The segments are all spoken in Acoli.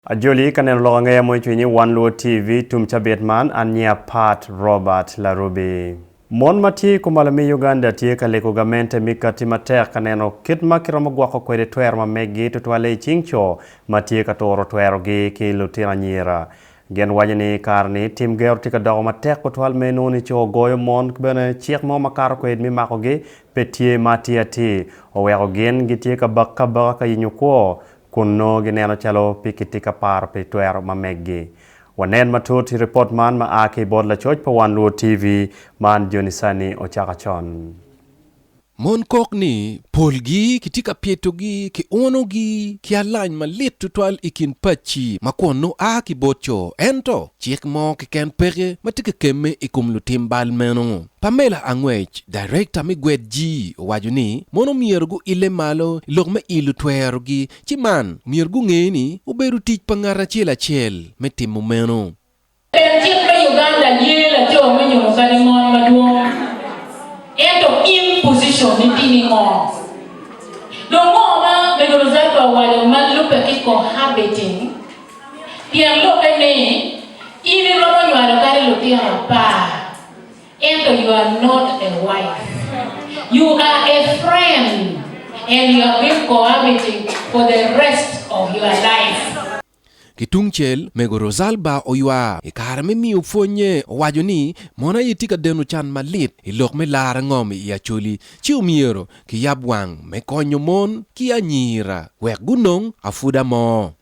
Ajoli ka neno lok angeya mo icwinyi wan luwo TV tum cabit man an nyinga Pat Robert Larubi. Mon ma tye ikumalo me Uganda tye ka lego gamente mi kati matek ka neno kit ma ki romo gwoko kwede twero ma meggi tutwalle icing co ma tye ka turo twero gi ki lutino anyira. Gin waco ni kare ni tim gero tye ka doko matek kutwal me nongo ni co goyo mon ki bene cik mo ma kato kwed mi mako gi pe tye ma atir atir oweko gin gi tye ka bak ka baka ka yenyo kwo kun nongo gineno calo pe kitye ka paro pi twero ma meggi. Wanen matut i ripot man ma a ki bot lacoc pa One Luo TV, Man Joni Sanni Ocaka Con. Mon kok ni polgi kitye ka pyetogi ki unogi ki alany malit tutwal i kin pacci ma kwon nongo a ki bot co. Ento, cik mo keken peke ma tye kakemme i kom lutim bal meno. Pamela Angwec, Darekta me Gwed Ji owaco ni mono myero guille malo i lok me ilo twerogi ci man myero gunge ni obedo tic pa ngat acel acel me timo meno. Pien cik me Uganda ye laco me nyumo kadi mon madwong, ento in position ni tye ni ngo? Dong ngo ma Megonozato owaco ma lube ki cohabiting? Pien lube ni in iromo nywalo kadi lutino apar. Ento you are not a wife, you are a friend and you have been cohabiting for the rest of your life. Ki tung cel, Mego Rosalba oywa i kare me miyo pwonye. Owaco ni, Mono aye tye ka deno can malit i lok me lar angom i Acholi, ci omyero kiyab wang me konyo mon ki anyira wek gunong apwodamor.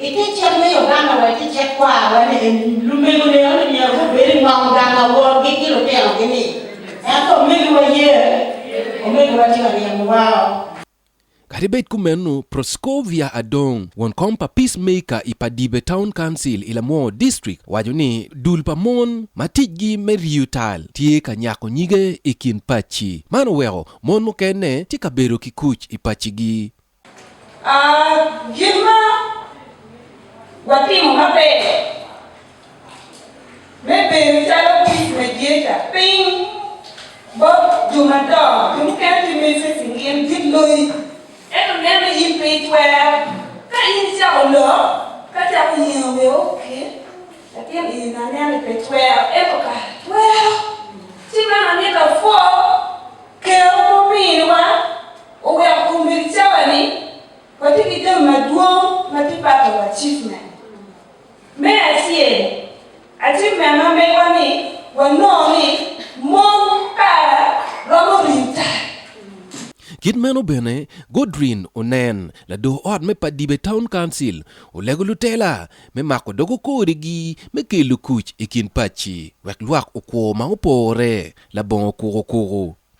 I te cik me Uganda wa tye cik kwar wa ni lumego ne one myero gubed i ngom gang awor gi ki lutino gi ni. Ento omego wa ye? Omego wa tye ka ryemo wa o. Kadi bed kumeno, Proscovia Adong, won kom pa Peace Maker i Padibe Town Council i Lamwor District owaco ni dul pa mon ma ticgi me riyo tal tye ka nyako nyige i kin pacci. Man oweko mon mukene tye ka bedo ki kuc i paccigi. A Gin ma watimo maber me bedo calo Kic me Jeca piny bot jo madongo. Jo mukene tye mege pi gin gin loyi, ento nen ni in pe itwero. Ka in icako lok, ka cako yengo bene oke, latin eni na nen ni pe twero, ento kara twero. Ci meno amito apwoo Ker ma ominiwa. Oweko kombeddi cawa ni watye ki jami madwong ma tye pato wa achievement. Me acel, achievement ma megwa ni wanongo ni mon kara romo rii tar. Kit meno bene, Godwin Onen, lador ot me Padibe Town Council, olego lutela me mako dogo kodigi me kelo kuc i kin paci wek lwak okwo ma opore labongo kukukuku.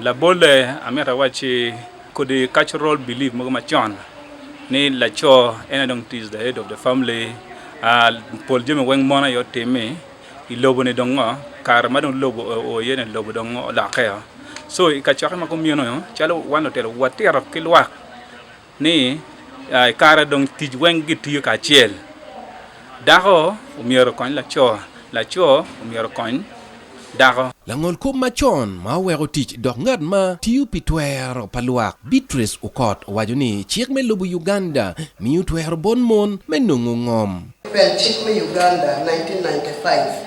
Labolle, amito awacci kodi cultural belief mogo macon ni laco en aye dong is the head of the family, pol jami weng mon aye otimi, i lobo ni dong ngo kare ma dong lobo oo iye ni lobo dong olokke oo, so i kacokke ma kumeno calo wan lutino watito ki lwak Ni, I kare dong tic weng gitiyo kacel. Dako omyero okony laco, laco omyero okony dako. Langolkop macon ma oweko tic dok ngat ma tiyo pi twero pa lwak, Beatrice Okot owaco ni cik me lobo Uganda miyo twero bot mon me nongo ngom. Pien cik me Uganda 1995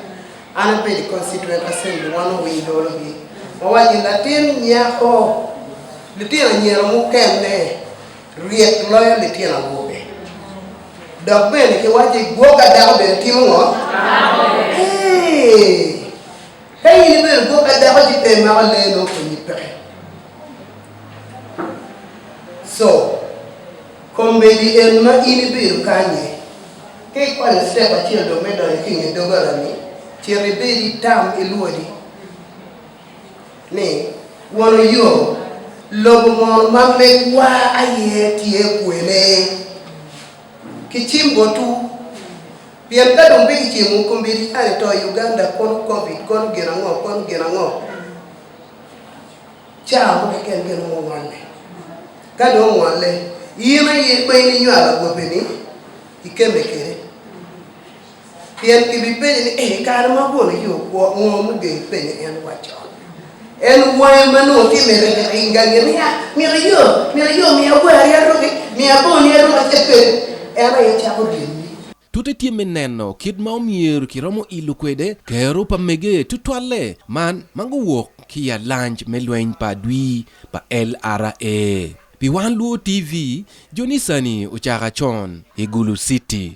An abedo i constituent assembly wan owiny dolo gi wawaco ni latin nyako litino anyira mukene ryek loyo litino awobe dok bene ki waco ni gwok adako bene timo ngo eeh ka in ibedo gwok adako ci pe imako lee nongo konyi peke so Kombeddi en ma in ibido kanye? Ka ikwanyo citep acel dong me donyo ki i nge doggola-ni, cit ibed i tam ilwodi ni, 'Wono yo, lobo mono ma megwa aye tye kwene? Kicim botwu. Pien ka dong pe kicimo, kombeddi an i to i Uganda, kono Covid, kono gin ango, kono gin ango. Caa mo keken kene ma ongole. Ka dong ongole, in aye ma in inywalo agobbe-ni, ikemme kwede. Pien kibipenye ni, 'I kare ma abwolo ii okwo, ngo ma ogeyi ipenyo en wacco? En wange ma nongo tye mere gik i gangi ni, 'Aa, myero iyo, myero iyo, miya wari aruki, miya boni aruki, acel kwede. En aye cako ryemi. Tute tye me neno kit ma omyero kiromo ilo kwede kero pa mege tutwalle man ma guwok ki i alanj me Lweny pa Adwi pa LRA. Pi Wan Luo TV, Jonisani ocaka con i Gulu City.